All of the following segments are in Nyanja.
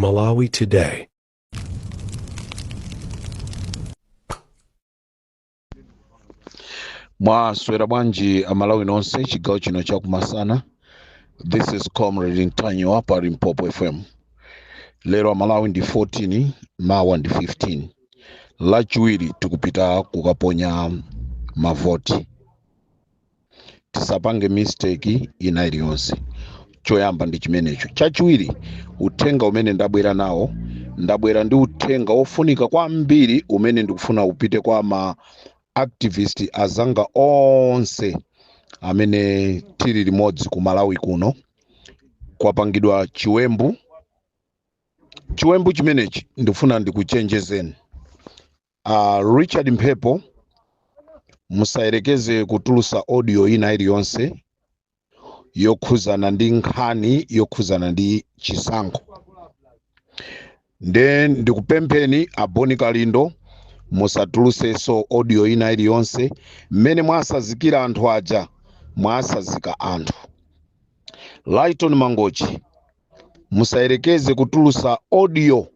Malawi Today. mwaswera bwanji aMalawi nonse chigawo chino chakumasana this is comrade Ntanyiwa pa Limpopo FM lero aMalawi ndi 14 mawa ndi 15 lachiwiri tikupita kukaponya mavoti tisapange mistake ina iliyonse choyamba ndi chimenecho chachiwiri uthenga umene ndabwera nawo ndabwera ndi uthenga wofunika kwambiri umene ndikufuna upite kwa ma activist azanga onse amene tili limodzi ku Malawi kuno kwapangidwa chiwembu chiwembu chimenechi ndifuna ndikuchenjezeni a Richard Mphepo musayerekeze kutulusa audio ina iliyonse yokhuzana ndi nkhani yokhuzana ndi chisankho nde ndikupempheni a Bon Kalindo musatulusenso audio ina iliyonse mmene mwasazikira anthu aja mwasazika anthu Lighton Mangochi musayerekeze kutulusa audio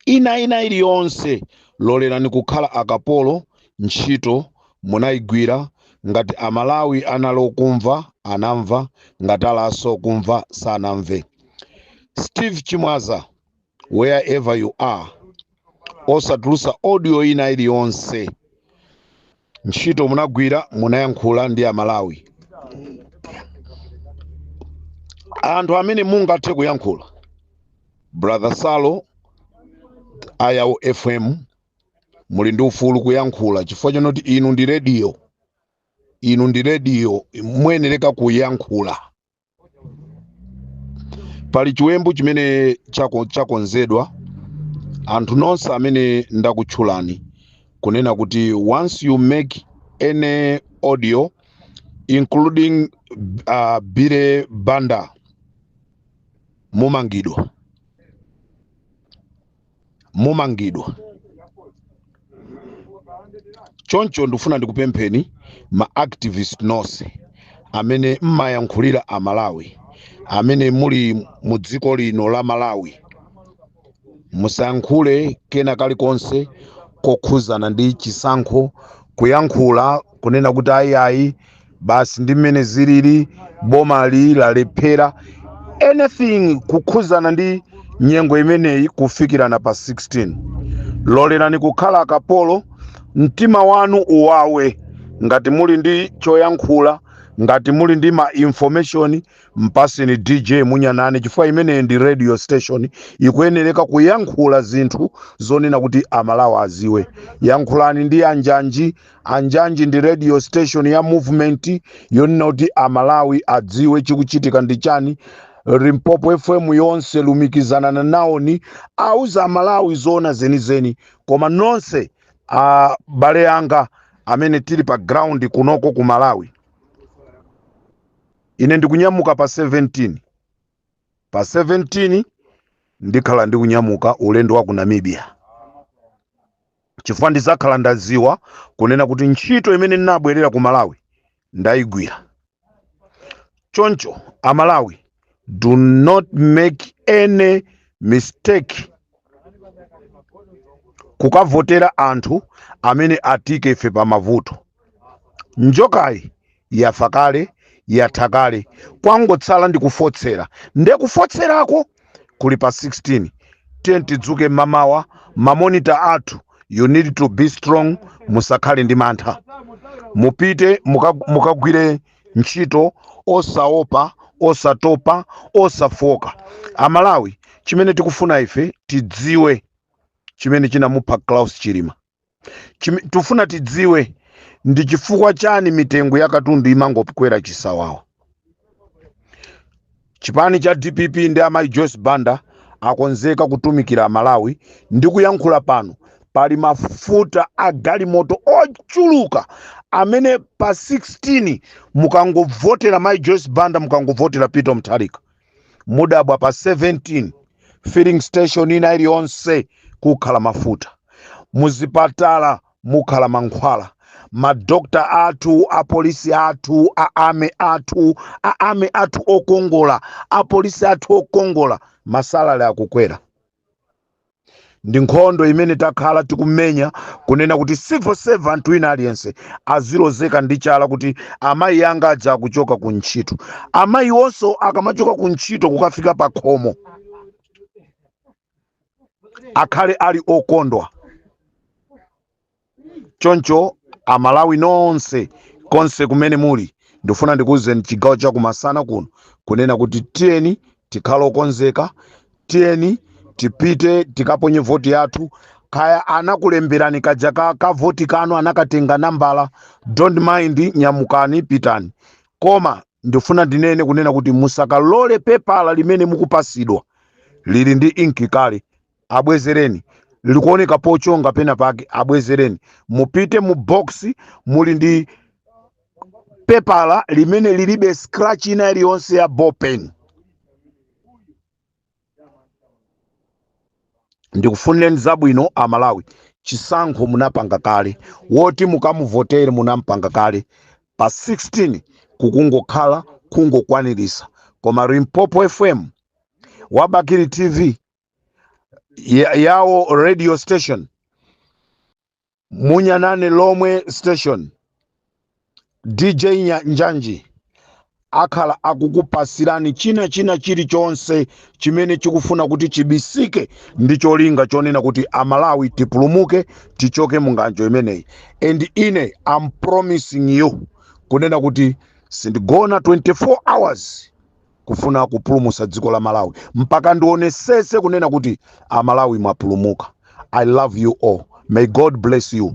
ina ina iliyonse lolerani kukhala akapolo ntchito munayigwira ngati aMalawi anali okumva anamva ngati ali osakumva sanamve Steve Chimwaza wherever you are osatulusa audio ina iliyonse ntchito munagwira munayankhula ndi aMalawi anthu amene mungathe kuyankhula brother Salo a Yawo FM muli ndi ufulu kuyankhula chifukwa chonoti inu ndi rediyo inu ndi rediyo muyenereka kuyankhula pali chiwembu chimene chako- chakonzedwa anthu nonse amene ndakutchulani kunena kuti once you make any audio including uh, Bire Banda mumangidwa mumangidwa choncho ndikufuna ndikupempheni ma activist nonse amene mmayankhulira aMalawi amene muli mu dziko lino la Malawi musayankhule kena kalikonse kokhuzana ndi chisankho kuyankhula kunena kuti ayi ayi basi ndi mmene zilili boma ili lalephera anything kukhuzana ndi nyengo imeneyi kufikirana pa 16 lolerani kukhala akapolo mtima wanu uwawe ngati muli ndi choyankhula ngati muli ndi ma information mpaseni dj munyanane chifukwa imeneyi ndi radio station ikuyenereka kuyankhula zinthu zonena kuti amalawi aziwe yankhulani ndi anjanji anjanji ndi radio station ya movement yonena kuti amalawi adziwe chikuchitika ndi chani limpopo fm yonse lumikizana nawoni auza amalawi zoona zenizeni koma nonse abale anga amene tili pa ground kunoko ku malawi ine ndikunyamuka pa 17 pa 17 ndikhala ndikunyamuka ulendo wa ku namibia chifukwa ndizakhala ndaziwa kunena kuti ntchito imene ndinabwerera ku malawi ndaigwira choncho amalawi do not make any mistake kukavotera anthu amene atiika ife pa mavuto njoka iyi yafa kale yatha kale kwangotsala ndi kufotsera nde kufotserako kuli pa 16 tiyeni tidzuke mmamawa mamonita athu you need to be strong musakhale ndi mantha mupite muka- mukagwire ntchito osaopa osatopa osafoka amalawi chimene tikufuna ife tidziwe chimene chinamupha klaus chilima Chime- tifuna tidziwe ndi chifukwa chani mitengo ya katundu imangokwera chisawawa chipani cha dpp ndi amayi joyce banda akonzeka kutumikira malawi ndi kuyankhula pano pali mafuta a galimoto ochuluka amene pa 16 mukangovotera mayi joyce banda mukangovotera peter mutharika mudabwa pa 17 filling station ina iliyonse kukhala mafuta muzipatala mukhala mankhwala madokta athu apolisi athu a army athu a army athu okongola apolisi athu okongola masalale akukwera ndi nkhondo imene takhala tikumenya kunena kuti civil servant wina aliyense azilozeka ndi chala kuti amayi anga aja akuchoka ku ntchito amayi onso akamachoka ku ntchito kukafika pa khomo akhale ali okondwa choncho amalawi nonse konse kumene muli ndifuna ndikuwuzeni chigawo chakumasana kuno kunena kuti tiyeni tikhale okonzeka tiyeni tipite tikaponye voti yathu kaya anakulemberani kaja ka voti kanu anakatenga nambala don't mind nyamukani pitani koma ndifuna ndinene kunena kuti musakalole pepala limene mukupasidwa lili ndi inki kale abwezereni likuoneka pochonga pena pake abwezereni mupite mu box muli ndi pepala limene lilibe scratch ina iliyonse ya ballpen ndikufunireni zabwino amalawi chisankho munapanga kale woti mukamuvotere munampanga kale pa 16 kukungokhala kungokwanirisa koma limpopo fm wabakili tv yawo radio station munyanane lomwe station dj njanji akhala akukupasirani chinachina chilichonse chimene chikufuna kuti chibisike ndi cholinga chonena kuti amalawi tipulumuke tichoke munganjo imeneyi and ine am promising you kunena kuti sindigona 24 hours kufuna kupulumusa dziko la malawi mpaka ndionesese kunena kuti amalawi mwapulumuka i love you all may god bless you